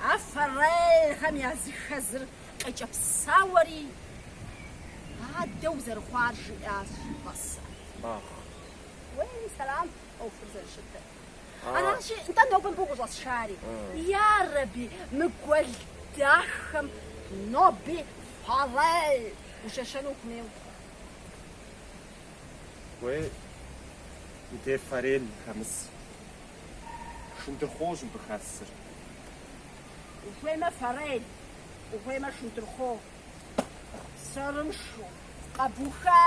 А форелхэм языхэзыр къекӏэпсауэри, адэу зэрыхъуар жиӏащ Басэ. Уей, сэлам, ӏуэхур зэрыщытыр. Аращи, нтӏэ нобэ мыбы укъыщӏэсшари. Ярэби, мы гуэл дахэм ноби форель ущещэну ухуейуэ. Уей, ди форель хэмыс. Шындырхъуощ мыбы хэсыр. Ухуеймэ форель, ухуеймэ шындырхъуо. Сэрыншу, къэбуха!